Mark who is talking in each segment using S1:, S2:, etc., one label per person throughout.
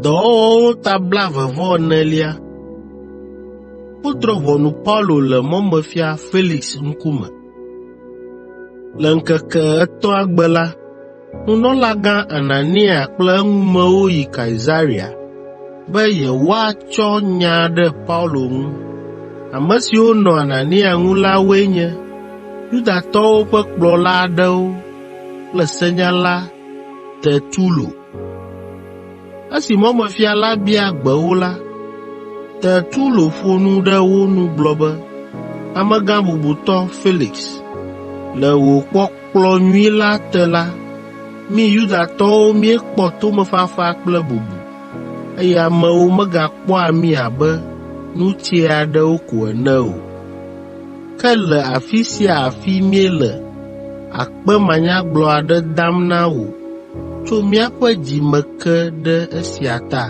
S1: Dɔwɔwɔwo ta blaeve-vɔ-enelia. Wodrɔ̃ ʋɔnu Paulo le mɔmefia Felix ŋkume. Le ŋkeke etɔ̃a gbe la, nunɔlagã Anania kple eŋumewo yi Kaesarea. be yewoatsɔ nya ɖe Paulo ŋu. Ame siwo nɔ Anania ŋu la woe nye Yudatɔwo ƒe kplɔla aɖewo kple senyala Tertulo. Esi mɔmefia la bia gbe wo la, Tertulo ƒo nu ɖe wo nu gblɔ be, “Amegã bubutɔ Felix, le wò kpɔkplɔ nyui la te la, mí Yudatɔwo míekpɔ tomefafa kple bubu. eye amewo megakpɔa mí abe nu tsɛ aɖewo ko ene o. Ke le afi sia afi míele akpe manyagblɔ aɖe dam na wò tso míaƒe dzi me ke ɖe esia ta.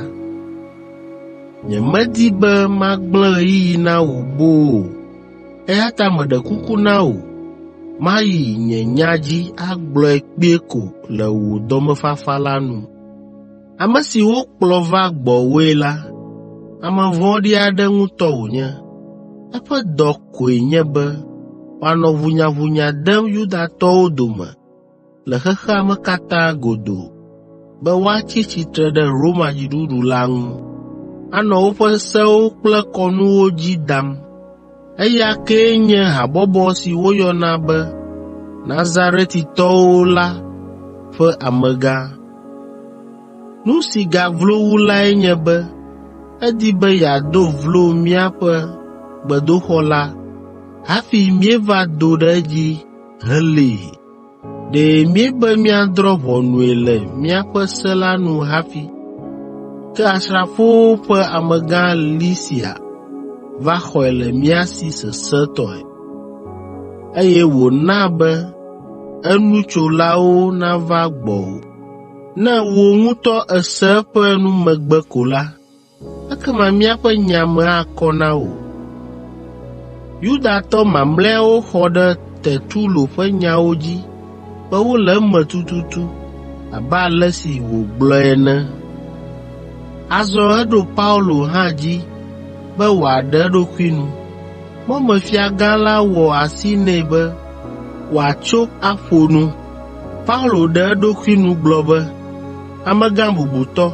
S1: Nyemedi be magblẽ ɣeyiɣi na wò boo o, eya ta meɖe kuku na wò mayi nye nya dzi agblɔe kpuie ko le wò dɔmefafa la nu. Ame si wokplɔ va gbɔwòe la, ame vɔ̃ɖi aɖe ŋutɔ wònye. Eƒe dɔ koe nye be wòanɔ ʋunyaʋunya dem Yudatɔwo dome le xexea me katã godoo be woatsi tsitre ɖe Roma dziɖuɖu la ŋu, anɔ woƒe sewo kple kɔnuwo dzi dam. Eya kee nye habɔbɔ si woyɔna be Nazaretitɔwo la ƒe amegã. Nu si gaglo wu lae nye be edi be yeado vlo míaƒe gbedoxɔ la hafi míeva do ɖe edzi helée. Ɖe míebe míadrɔ̃ ʋɔnui le míaƒe se la nu hafi. Ke asrafowo ƒe amegã Lisia va xɔe le mía si sesẽtɔe, eye wòna be enutsolawo nava gbɔwò. Ne wò ŋutɔ èse eƒe numegbe ko la, ekema míaƒe nya me akɔ na wò. Yudatɔ mamlɛawo xɔ ɖe Tertulo ƒe nyawo dzi be wole eme tututu abe ale si wògblɔe ene. Azɔ eɖo Paulo hã dzi be wòaɖe eɖokui nu. Mɔmefiagã la wɔ asi nɛ be wòatso aƒo nu. Paulo ɖe eɖokui nu gblɔ be, “Amegã bubutɔ,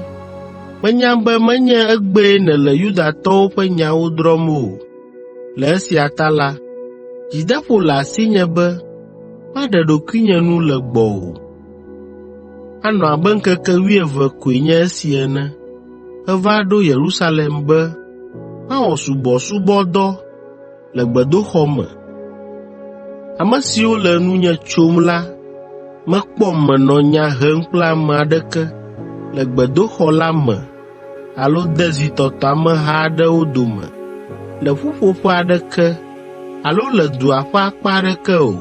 S1: Menya be menye egbee nèle Yudatɔwo ƒe nyawo drɔ̃m o. Le esia ta la, dzideƒo le asinye be maɖe ɖokuinye nu le gbɔwò. Anɔ abe ŋkeke wuieve koe nye esi ene meva ɖo Yerusalem be mawɔ subɔsubɔdɔ le gbedoxɔ me. Ame siwo le nunye tsom la mekpɔm menɔ nya hem kple ame aɖeke le gbedoxɔ la me alo de zitɔtɔ ameha aɖewo dome le ƒuƒoƒe aɖeke alo le dua ƒe akpa aɖeke o.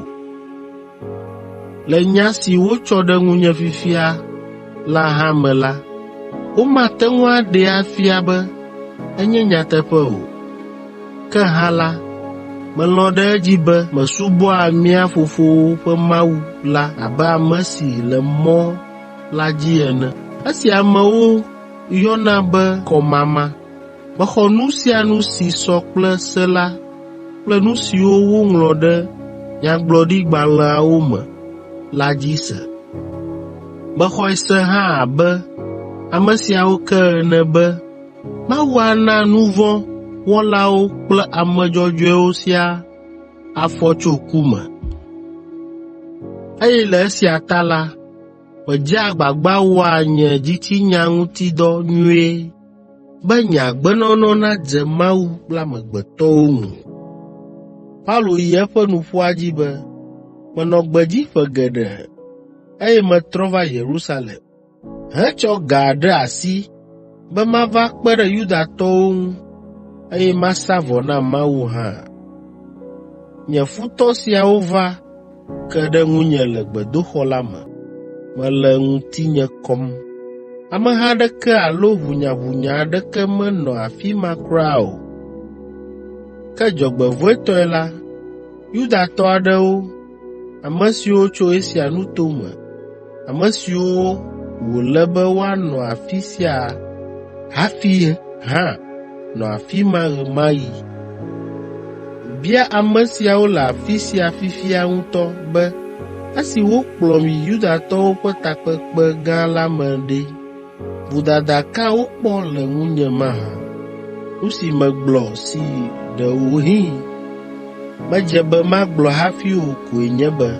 S1: Le nya si wotsɔ ɖe ŋunye fifia la hã me la, womate ŋu aɖee afia be enye nyateƒe o. Ke hã la, melɔ̃ ɖe edzi be mesubɔa mía fofowo ƒe Mawu la abe ame si le Mɔ la dzi ene. Esi amewo yɔna be kɔmama, Mexɔ nu sia nu si sɔ kple Se la kple nu siwo woŋlɔ ɖe nyagblɔɖigbalẽawo me la dzi se. Mexɔe se hã abe ame siawo ke ene be Mawu ana nu vɔ̃ wɔlawo kple ame dzɔdzɔewo siaa afɔ tso ku me. Eye le esia ta la, medzea agbagba wɔa nye dzitsinya ŋuti dɔ nyuie be nye agbenɔnɔ nadze Mawu kple amegbetɔwo ŋu. Paulo yi eƒe nuƒoa dzi be, “Menɔ gbedzi ƒe geɖe, eye metrɔ va Yerusalem hetsɔ ga ɖe asi be mava kpe ɖe Yudatɔwo ŋu, eye masa vɔ na Mawu hã. Nye futɔ siawo va ke ɖe ŋunye le gbedoxɔ la me, mele ŋutinye kɔm. Ameha aɖeke alo ʋunyaʋunya aɖeke menɔ afi ma kura o. Ke dzɔgbevɔ̃etɔe la, Yudatɔ aɖewo, ame siwo tso Asia nuto me, Ame siwo wòle be woanɔ afi sia hafi hã nɔ afi ma ɣe ma ɣi. Bia ame siawo le afi sia fifia ŋutɔ be esi wokplɔm yi Yudatɔwo ƒe takpekpe gã la me ɖe, Vodada ka wokpɔ le ŋunye mahã? Nu si megblɔ si ɖewohĩ medze be magblɔ hafi o koe nye be,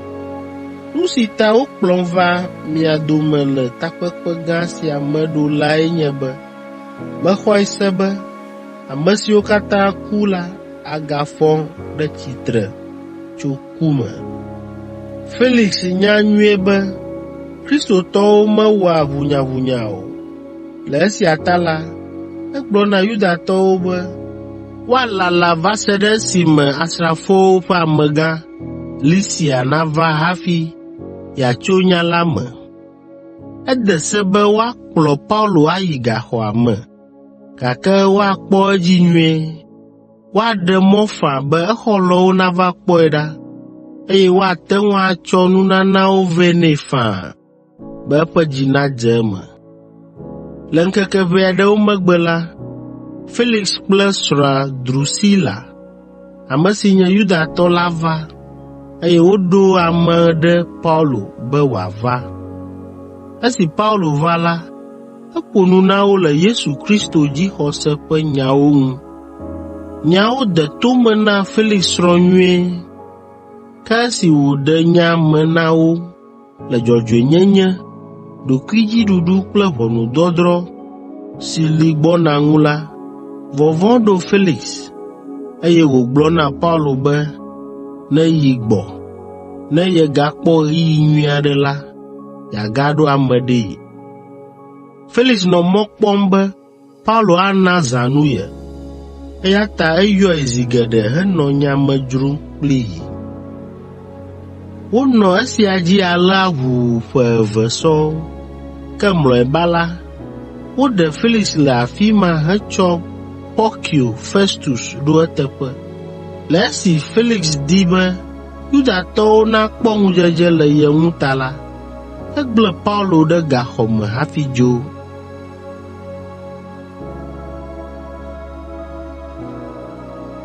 S1: Nu si ta wokplɔm va mia dome le takpekpe gã sia me ɖo lae nye be mexɔe se be ame siwo katã ku la agafɔ ɖe tsitre tso ku me. Felix nya nyuie be Kristotɔwo mewɔa ʋunyaʋunya o. Le esia ta la, egblɔ na Yudatɔwo be woalala va se ɖe esime asrafowo ƒe amegã Lisia nava hafi yeatso nya la me. Ede se be woakplɔ Paulo ayi gaxɔa me, gake woakpɔ edzi nyuie. woaɖe mɔ faa be exɔlɔ̃wo nava kpɔe ɖa, eye woate ŋu atsɔ nunanawo vɛ nɛ faa be eƒe dzi nadze eme. Le ŋkeke ʋɛ aɖewo megbe la, Felix kple srɔ̃a Drusila, ame si nye Yudatɔ la va, eye woɖo ame ɖe Paulo be wòava. Esi Paulo va la, Eƒo nu na wo le Yesu Kristo dzixɔse ƒe nyawo ŋu. Nyawo de to me na Felix srɔ̃ nyuie, ke esi wòɖe nya me na wo le dzɔdzɔenyenye, ɖokuidziɖuɖu kple ʋɔnudɔdrɔ̃ si li gbɔna ŋu la, vɔvɔ̃ ɖo Felix, eye wògblɔ na Paulo be neyi gbɔ, ne yegakpɔ ɣeyiɣi nyui aɖe la, yeagaɖo ame ɖee. Felix nɔ mɔ kpɔm be Paulo ana zãnu ye, eya ta eyɔe zi geɖe henɔ nya me dzrom kplii. Wonɔ esia dzi alea ʋuu ƒe eve sɔŋ, ke mlɔeba la, woɖe Felix le afi ma hetsɔ Porkio Festus ɖo eteƒe. Le esi Felix di be Yudatɔwo nakpɔ ŋudzedze le ye ŋu ta la, Egblẽ Paulo ɖe gaxɔ me hafi dzo.